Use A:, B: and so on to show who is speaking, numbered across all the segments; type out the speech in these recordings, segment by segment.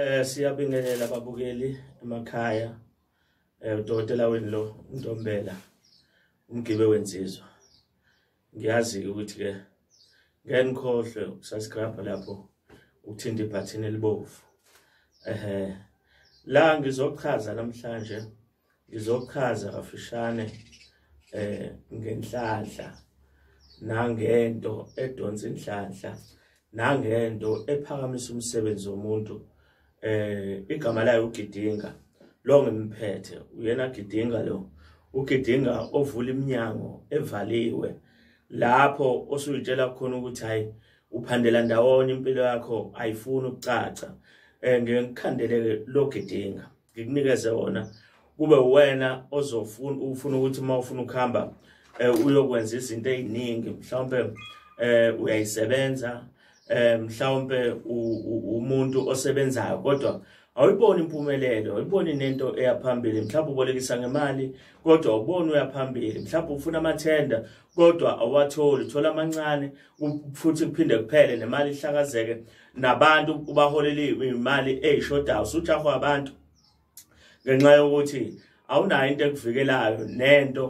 A: Eh siyabingelela babukeli emakhaya. Eh udokotela wenu lo Ntombela umgibe wensizwa. Ngiyazi ukuthi ke ngeke nikhohlwe ukusubscribe lapho ukuthinta ibhathini elibovu. Ehhe la ngizochaza namhlanje ngizochaza kafishane eh ngenhlanhla nangento edonsa inhlanhla nangento ephakamisa umsebenzi womuntu eh igama layo ugidinga lo ngimphethe uyena gidinga lo ugidinga ovula iminyango evaliwe lapho osuyitshela khona ukuthi hayi uphandela ndawonye impilo yakho ayifuni ukucaca eh ngikhandele lo gidinga ngikunikeze wona kube wena ozofuna ufuna ukuthi uma ufuna ukuhamba eh, uyokwenza izinto eziningi mhlawumbe eh uyayisebenza eh mhlawumbe umuntu osebenzayo kodwa awuyiboni impumelelo awuyiboni nento eyaphambili mhlawumbe ubolekisa ngemali kodwa awuboni uyaphambili mhlawumbe ufuna amathenda kodwa awatholi thola amancane futhi kuphinde kuphele nemali ihlakazeke nabantu ubaholela imali eyishodayo usujahwa abantu ngenxa yokuthi awunayo into ekuvikelayo nento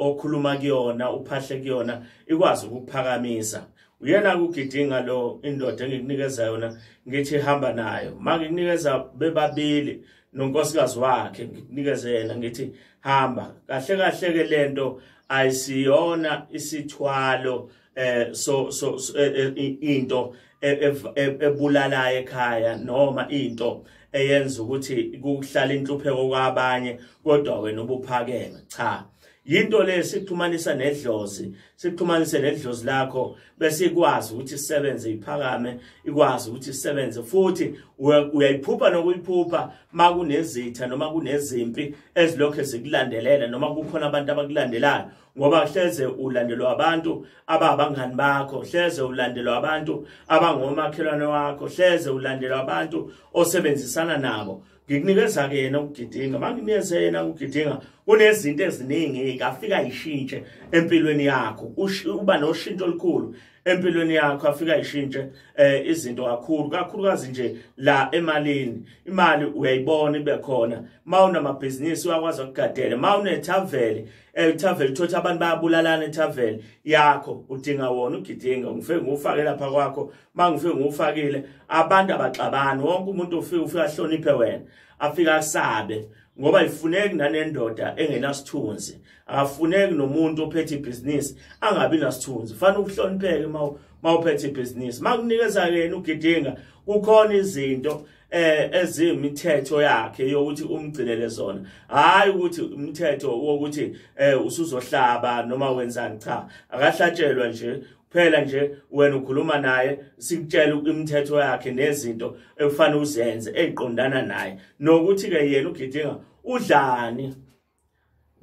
A: okhuluma kuyona uphahle kuyona ikwazi ukuphakamisa uyena kugidinga lo indoda engikunikeza yona ngithi hamba nayo mangikunikeza bebabili nonkosikazi wakhe ngikunikeze yena ngithi hamba kahle kahle ke lento ayisiyona isithwalo si eh so so eh, eh, into e, e, ebulala ekhaya noma into eyenza ukuthi kuhlala inhlupheko kwabanye kodwa wena ubuphakeme cha yinto le sikuxhumanisa nedlozi sikuxhumanise nedlozi lakho bese ikwazi ukuthi isebenze iphakame ikwazi ukuthi isebenze futhi uyayiphupha nokuyiphupha makunezitha noma kunezimpi ezilokho zikulandelela noma kukhona abantu abakulandelayo ngoba hleze ulandelwa abantu ababangani bakho hleze ulandelwa abantu abangomakhelwane wakho hleze ulandelwa abantu osebenzisana nabo ngikunikeza ke yena ukugidinga manginikeze yena ukugidinga kunezinto eziningi afika ishintshe empilweni yakho uba noshintsho olukhulu empilweni yakho afika ishintshe eh izinto kakhulu kakhulukazi nje la emalini imali uyayibona ibe khona mawunamabhizinisi uyakwazi ukugadela mawunethavele elithaveli eh, thothi abantu bayabulalana ethaveli yakho udinga wona ugidinga ngifike ngufake lapha kwakho mangifike ngufakile abantu abaxabani wonke umuntu ufike ufike ahloniphe wena afike asabe ngoba ifuneki nanendoda engenasithunzi akafuneki nomuntu ophethe ibhizinisi angabi nasithunzi fanele ukuhlonipheke uma uphethe ibhizinisi makunikeza yena ugidinga kukhona izinto eh ezimithetho yakhe yokuthi umgcinele zona hayi ukuthi umthetho wokuthi eh usuzohlaba noma wenzani cha akahlatshelwa nje phela nje wena ukhuluma naye sikutshela imithetho yakhe nezinto ekufanele uzenze eziqondana naye nokuthi ke yena ugidinga udlani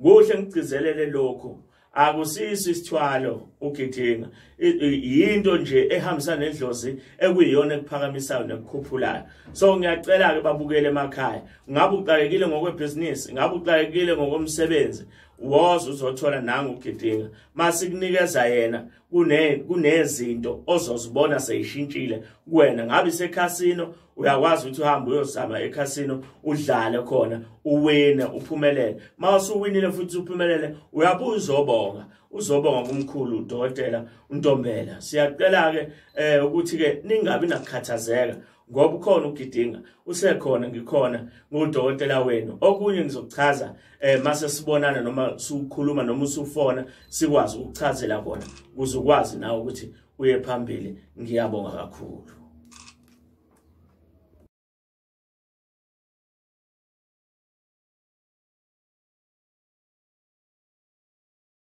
A: kuhle ngigcizelele lokhu akusiso isithwalo ugidinga yinto nje ehambisa nedlozi ekuyiyona ekuphakamisayo nekukhuphulayo so ngiyacela ke babukele emakhaya ngabe uxakekile ngokwebhizinisi ngabe uxakekile ngokomsebenzi woza uzothola nangu ugidinga masikunikeza yena kune kunezinto ozozibona seyishintshile kuwena ngabe isekhasino uyakwazi ukuthi uhambe uyozama ekhasino udlale khona uwine uphumelele uma usuwinile futhi uphumelele uyabuya uzobonga uzobonga kumkhulu udokotela untombela siyacela-ke um ukuthi-ke ningabi nakukhathazeka ngoba ukhona ugidinga usekhona ngikhona ngudokotela wenu okunye ngizokuchaza eh mase sibonana noma sukhuluma noma usufona sikwazi ukuchazela kona ukuze ukwazi nawe ukuthi uye phambili ngiyabonga kakhulu